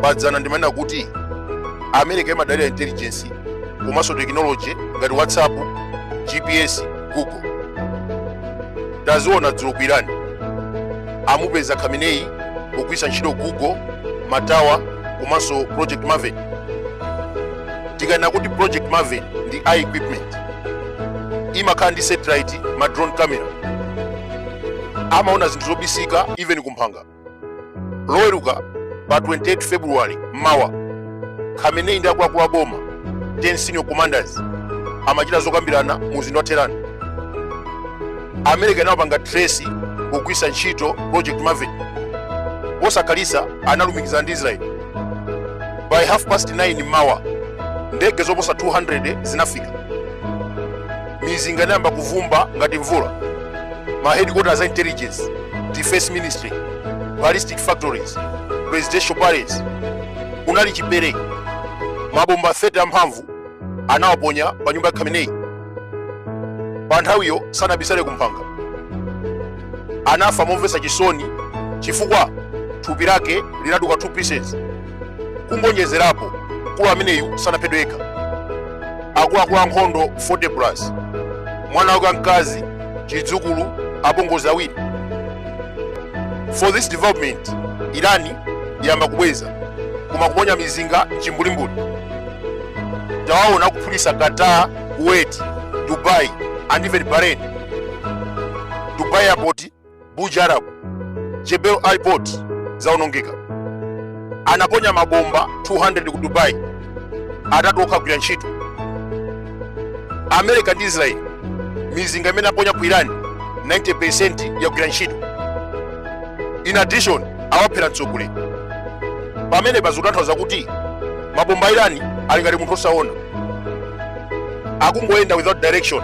padzana ndimanena kuti america imadalira intelligence komanso tekinoloji ngati whatsapp gps google taziona dzulo ku irani amupeza khamenei pogwiritsa ntchito google matawa komanso project maven tikanena kuti project maven ndi AI equipment imakhala ndi satellite ma drone camera amaona zinthu zobisika even kumphanga loweruka pa 28 february mmawa khamenei ndi akuluakulu a boma 10 senior commanders amachita zokambirana mu mzinda wa tehran america inawapanga trace kugwisa ntchito project maven posakhalitsa analumikizana ndi israel by half past 9 mmawa ndege zoposa 200 zinafika mizinga inayamba kuvumba ngati mvula ma headquarters a intelligence defense ministry ballistic factories presidential palace kunali chipere mabomba 30 amphamvu anawaponya pa nyumba ya khamenei pa nthawiyo sanabisale kumphanga anafa momvetsa chisoni chifukwa thupi lake linaduka 2 pieces kungonjezerapo mkulu ameneyu sanaphedwe yekha akuluakulu ankhondo 40 plus mwana wake wamkazi chidzukulu apongozi awiri for this development irani yayamba kubweza koma kuponya mizinga mchimbulimbuli tawaona kuphulisa qatar kuwait dubai and even bahrain dubai airport Buja Arab, Jebel Ali Port zaonongeka. Anaponya mabomba 200 ku Dubai, atatu okha agwira ntchito. America ndi Israel, mizinga imene aponya ku Iran 90% yagwira ntchito. In addition, awaphera mtsogoleri. Pamene pa zikutanthauza kuti mabomba a Iran ali ngati munthu osaona, akungoyenda without direction.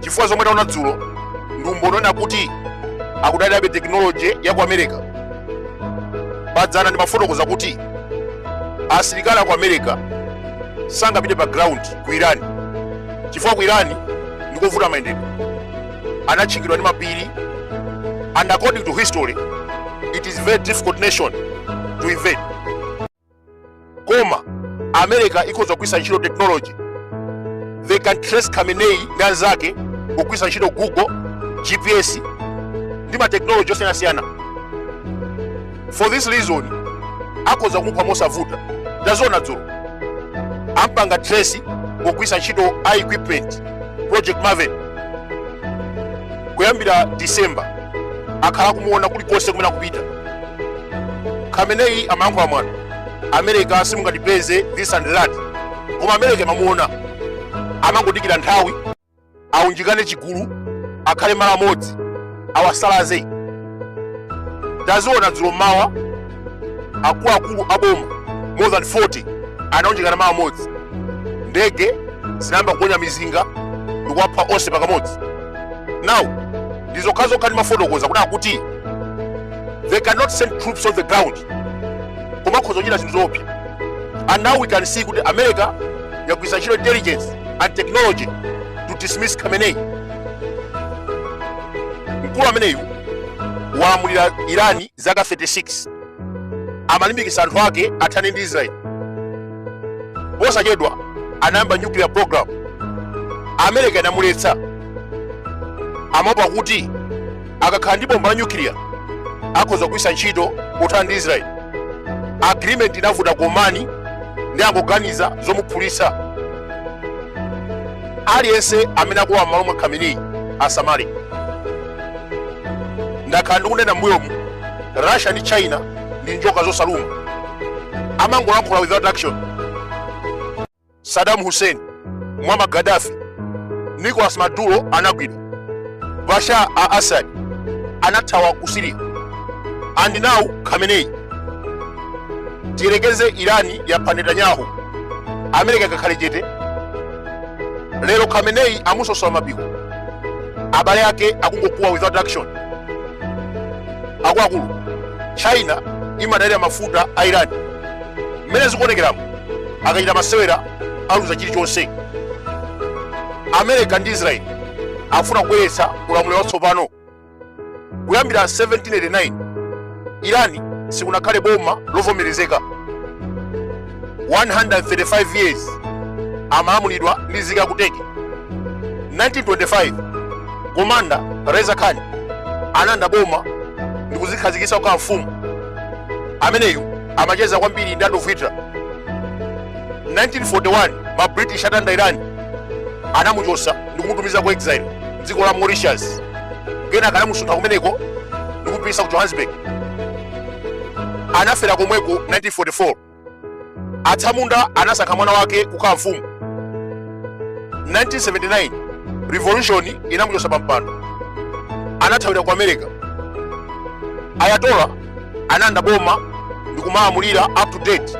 chifukwa zomwe taona dzulo ndi umboni woonena kuti akudalirabe tekinoloji ya ku america padzana ndimafotokoza kuti asilikali aku america sangapite pa ground ku irani chifukwa ku irani ndikovuta mayendedwe anatchingidwa ndi mapiri and according to history it is very difficult nation to invade koma america ikhoza kugwiritsa ntchito technology they can trace khamenei ndi anzake kugwiritsa ntchito google gps ndi matechnology osiyanasiyana for this reason akhoza kumupha mosavuta taziona dzulo ampanga trace kugwiritsa ntchito equipment project maven kuyambira december akhala akumuona kulikonse kumene akupita khamenei amalankhula mwano america simungatipeze this and that koma america imamuona amangodikira nthawi aunjikane chigulu akhale malo amodzi awasalaze taziona dzulo mmawa akuluakulu aboma more than 40 anaunjikana malo amodzi ndege zinayamba kuponya mizinga ndikuwapha onse pakamodzi now ndi zokhazokha ndimafotokoza kuti akuti they cannot send troops on the ground koma akhoza kuchita zinthu zoopsa and now we can see kuti america yagwiritsa ntchito intelligence and technology to dismiss khamenei mkulu ameneyu walamulira irani zaka 36 amalimbikitsa anthu ake athane ndi israel posachedwa anayamba nuclear program america inamuletsa amaopa kuti akakhala ndi bomba la nuclear akhoza kugwiritsa ntchito pothana ndi israel agreement inavuta kumanga ndiye angoganiza zomuphulitsa aliyense amene akulowa m'malo mwa khamenei asamale ndakhala ndikunena m'mbuyomu russia ndi china ndi njoka zosaluma amangolankhula without action saddam hussein muammar gaddafi nicolas maduro anagwidwa bashar al assad anathawa ku syria and now khamenei tiyerekeze irani yapha netanyahu america ingakhale chete lero khamenei amusosola mapiko abale ake akungokuwa without action akuluakulu china imadalira mafuta a iran mmene zikuonekeramu akachita masewera aluza chilichonse america ndi israel akufuna kubweretsa ulamuliro watsopano kuyambira 1789 Irani sikunakhale boma lovomerezeka 135 years amalamulidwa ndi nzika ya ku Turkey 1925 komanda Reza Khan analanda boma ndi kuzikhazikitsa kukhala mfumu ameneyu amacheza kwambiri ndi Adolf Hitler 1941 ma British atalanda Irani anamuchotsa ndi kumutumiza ku exile dziko la Mauritius kenaka anamusuntha kumeneko ndi kupititsa ku johannesburg anafera komweko 1944 atsamunda anasankha mwana wake kukhala mfumu 1979 revolution inamuchotsa pa mpando anathawira ku america ayatollah analanda boma ndi kumalamulira up to date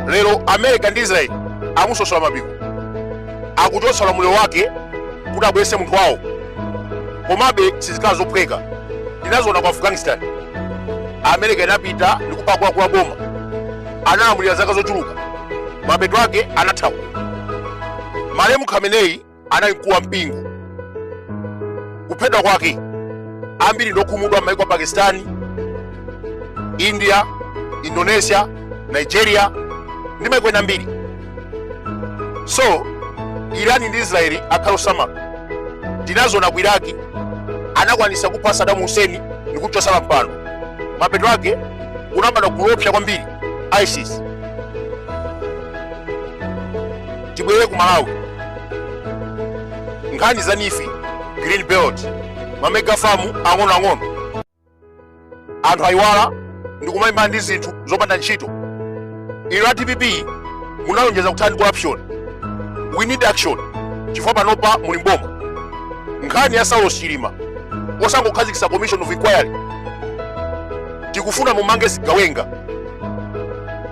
lero america ndi israel amusosola mapiko akuchotsa ulamuliro wake kuti abweretse munthu wawo komabe sizikhala zophweka tinaziona ku afghanistan america inapita ndi kupha akuluakulu a boma analamulira zaka zochuluka mapeto ake anathawa malemu khamenei anali mkulu wa mpingo kuphedwa kwake ambiri ndokhumudwa m'maiko a pakistani india indonesia nigeria ndi maiko ena ambiri so irani ndi israeli akhale osamala tinaziona ku iraki anakwanitsa kupha sadamu huseni ndi kumchotsa pampando mapeto ake kunabadwa gulu loopsa kwambiri isis tibwere ku malawi nkhani za neef green belt mamega famu ang'onoang'ono anthu ayiwala ndikumayimba ndi zinthu zopanda ntchito inu a dpp munalonjeza kuthana ndi corruption we need action chifukwa panopa muli mboma nkhani ya saulos chilima osangokhazikitsa commission of inquiry tikufuna mumange zigawenga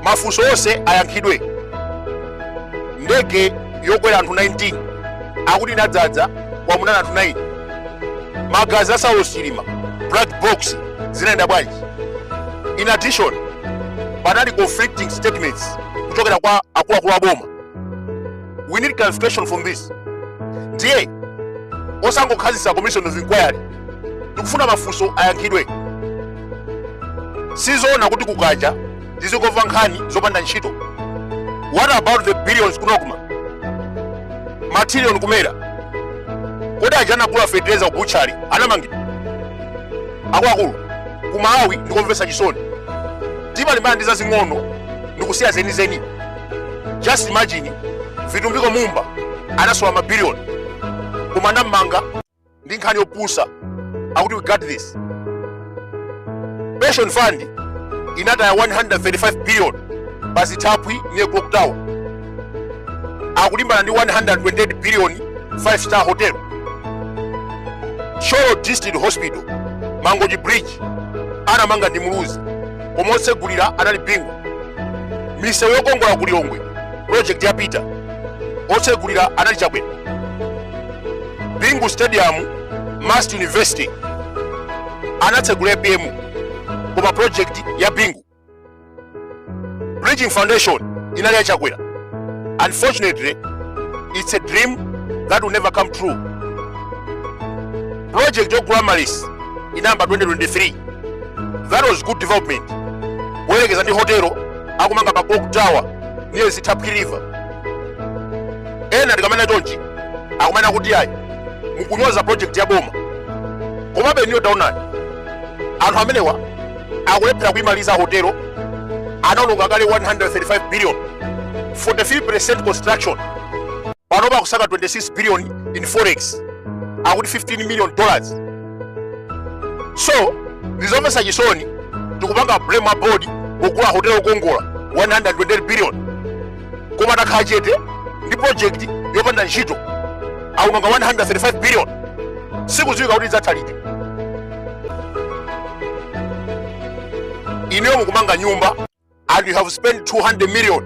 mafunso onse ayankhidwe ndege yokwera anthu 19 akuti inadzadza koma munali anthu 9 magazi a saulos chilima black box zinayenda bwanji in addition panali conflicting statements kuchokera kwa akuluakulu aboma we need clarification from this ndiye osangokhazikitsa commission of inquiry tikufuna mafunso ayankhidwe sizoona kuti kukacha tizingomva nkhani zopanda ntchito what about the billions ku nocma matrillion ku mera kodi aja anagula fetereza ku butchery anamangidwa akuluakulu ku malawi ndikomvetsa chisoni timalimbana ndi zazing'ono ndikusiya zenizeni just imagine vitumbiko mumba anasowa mabiliyoni koma anammanga ndi nkhani yopusa akuti we got this pension fund inataya 135 billion pa zithaphwi near clock tower akulimbana ndi 128 billion 5 star hotel thyolo district hospital mangochi bridge anamanga ndi muluzi koma otsegulira anali bingu misewu yokongola ku lilongwe project ya peter otsegulira anali chakwera bingu stadium must university anatsegula apm koma project ya bingu bridging foundation inali ya chakwera unfortunately it's a dream that will never come true project yogula amaryllis inayamba 2023 that was good development kuyerekeza ndi hotelo akumanga pa clock tower near zitapwi river ena tikamanena chonchi akumanena kuti ayi mukunyoza project ya boma komabe inuyo taonani anthu amenewa akulephera kuimaliza hotelo anaononga kale 135 billion 43% construction panopa akusaka 26 billion in forex akuti 15 million dollars so ndizomvetsa chisoni tikupanga blame a board kugula hotelo okongola 128 billion koma takhala chete ndi project yopanda ntchito aononga 135 billion sikudziwika kuti idzatha liti inuyo mukumanga nyumba and you have spent 200 million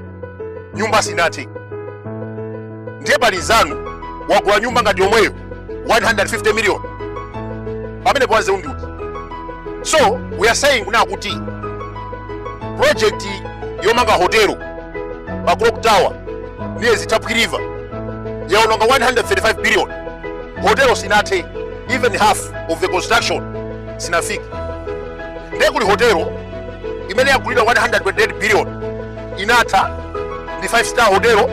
nyumba sinathe ndiye pali mnzanu wagula nyumba ngati yomweyo 150 million pamenepo wanzeru ndi uti so we are saying kunena kuti project yomanga hotelo pa clock tower near zitapwi river yaononga 135 billion hotelo sinathe even half of the construction sinafike ndiye kuli hotelo imene yagulidwa 128 billion inatha ndi 5 star hotelo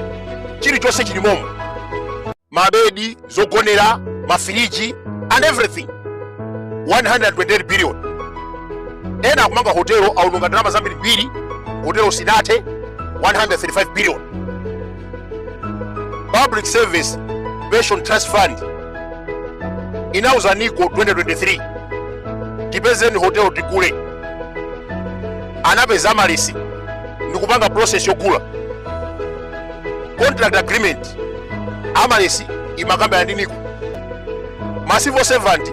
chilichonse chili momo mabedi zogonera mafiriji and everything 128 billion ena akumanga hotelo aononga ndalama zambirimbiri hotelo sinathe 135 billion public service pension trust fund inauza nico 2023 tipezeni hotelo tigule anapeza amaryllis ndikupanga process yogula contract agreement amaryllis imakambirana ndi nico ma civil servant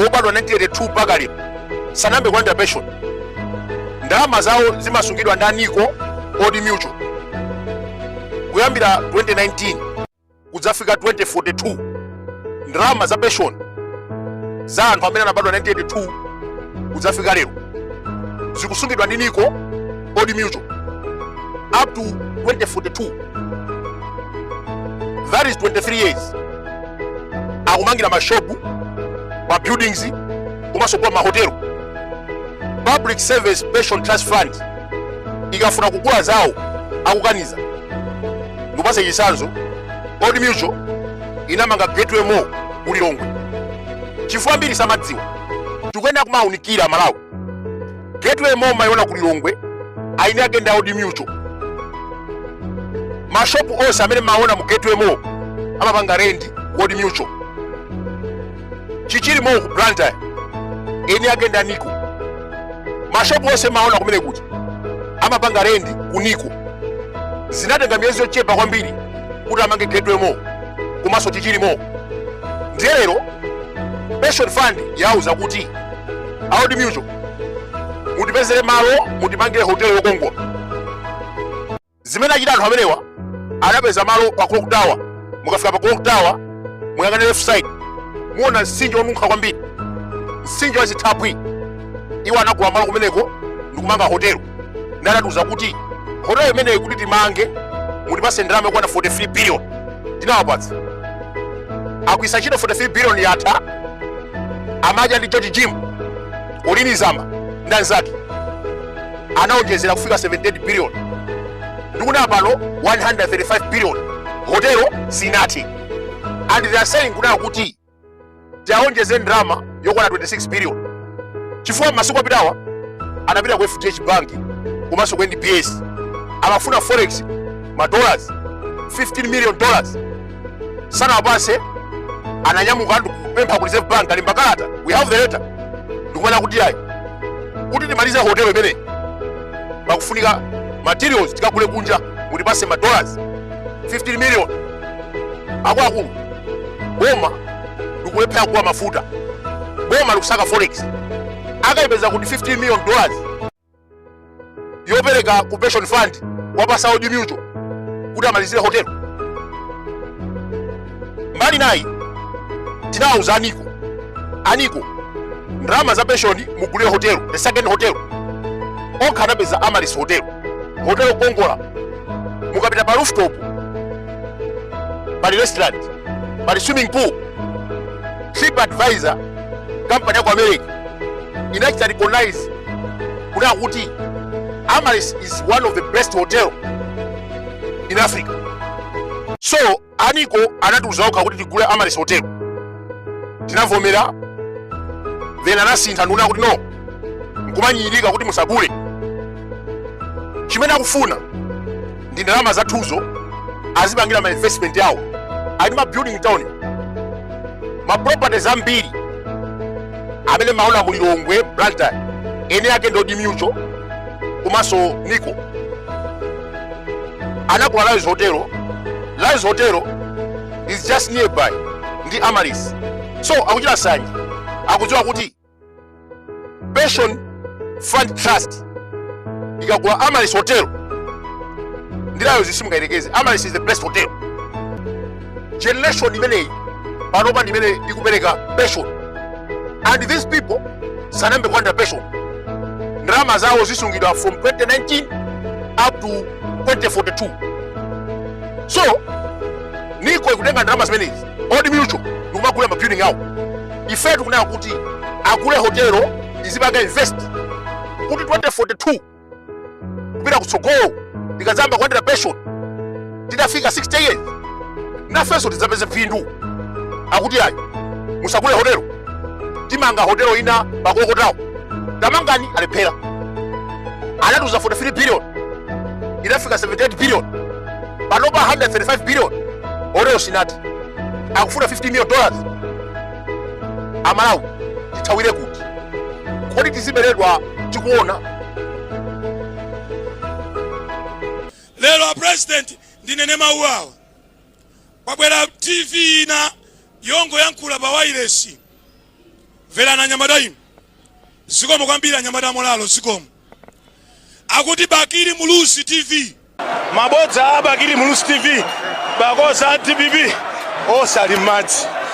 obadwa 1982 mpaka lero sanayambe kulandira pension ndalama zawo zimasungidwa ndi nico old mutual kuyambira 2019 kudzafika 2042 ndalama za pension za anthu amene anabadwa 1982 kudzafika lero zikusungidwa ndi nico old mutual up to 2042 that is 23 years akumangira mashopu ma buildings komanso kugula mahotelo public service pension trust fund ikafuna kugula zawo akukaniza ndipase chisanzo old mutual inamanga gateway mall ku lilongwe chifukwa ambiri samadziwa tikuyenera kumawunikira malawi gateway mall mayiona ku lilongwe eni ake ndi a old mutual mashopu onse amene maona mu gateway mall amapanga rendi ku old mutual chichiri mall ku blantyre eni ake ndi a nico mashopu onse maona kumene kuti amapanga rendi ku nico zinatenga miyezi yochepa kwambiri kuti amange gateway mall komanso chichiri mall ndiye lero pension fund yauza kuti a old mutual mutipezere malo mutimangire hotelo yokongola zimene achita anthu amenewa anapeza malo pa clock tower mukafika pa clock tower muyang'ane left side muona msinje wonunkha kwambiri msinje wa zithaphwi iwo anagula malo kumeneko ndikumanga hotelo ndi anatiuza kuti hotelo imeneyi kuti timange mutipase ndalama yokwana 43 billion tinawapatsa agwiritsa ntchito 43 billion yatha amadya ndi george jim colleen zamba ndi anzake anaonjezera kufika 78 billion ndikunena pano 135 billion hotelo sinathe and they are saying kunena kuti tiaonjeze ndalama yokwana 26 billion chifukwa masiku apitawa anapita ku fdh bank komanso ku nbs amafuna forex ma dollars 15 million dollars sanawapase ananyamuka ndikupempha ku reserve bank alemba kalata we have the letter ndikumanena kuti ayi kuti timalize hotelo imeneyi pakufunika materials tikagule kunja mutipase ma dollars 15 million akuluakulu boma likulephera kugula mafuta boma likusaka forex akaipeza kuti 15 million dollars yopereka ku pension fund wapasa a Old Mutual kuti amalizire hotelo. Mbali inayi tinawauza a Nico a Nico ndalama za pension mugulire hotelo the second hotel okha anapeza Amaryllis hotel hotelo yokongola mukapita pa rooftop pali restaurant pali swimming pool Trip Advisor company yaku America inachita recognize kunena kuti Amaryllis is one of the best hotel in Africa. So a Nico anatiuza okha kuti tigule Amaryllis hotel, tinavomera then anasintha ndikunena kuti no, nkumanyirika kuti musagule chimene akufuna ndi ndalama zathuzo azipangira ma investment yawo ali ma building town ma properties ambiri amene mumaona mu lilongwe blantyre eni ake ndi old mutual komanso nico anagula ryalls hotel ryalls hotel is just nearby ndi amaryllis so akuchita sanje akudziwa kuti pension fund trust ikagula amaryllis hotel ndi ryalls simungayerekeze amaryllis is the best hotel generation imeneyi panopa ndimene ikupereka pension and these people sanayambe kulandira pension ndalama zawo zizisungidwa from 2019 up to 2042 so nico ikutenga ndalama zimenezi old mutual ndikumagula mabuilding awo ife tikunena kuti agule hotelo izipanga invest kuti 2042 kupita kutsogolo tikadzayamba kulandira pension titafika 60 years nafenso tidzapeze phindu akuti ayi musagule hotelo timanga hotelo ina pa katoto apo tamangani alephera anatiuza 43 billion inafika 78 billion panopa 135 billion hotelo sinathe akufuna 50 million dollars amalawi tithawire kuti kodi tizibeledwa tikuona lero a president ndinene mawu awa kwabwera tv ina yongoyankhula pa wailesi mverani anyamata inu zikomo kwambiri anyamata amulalo zikomo akuti bakili muluzi tv Mabodza a Bakili Muluzi TV, pakonza a dpp osali m'madzi.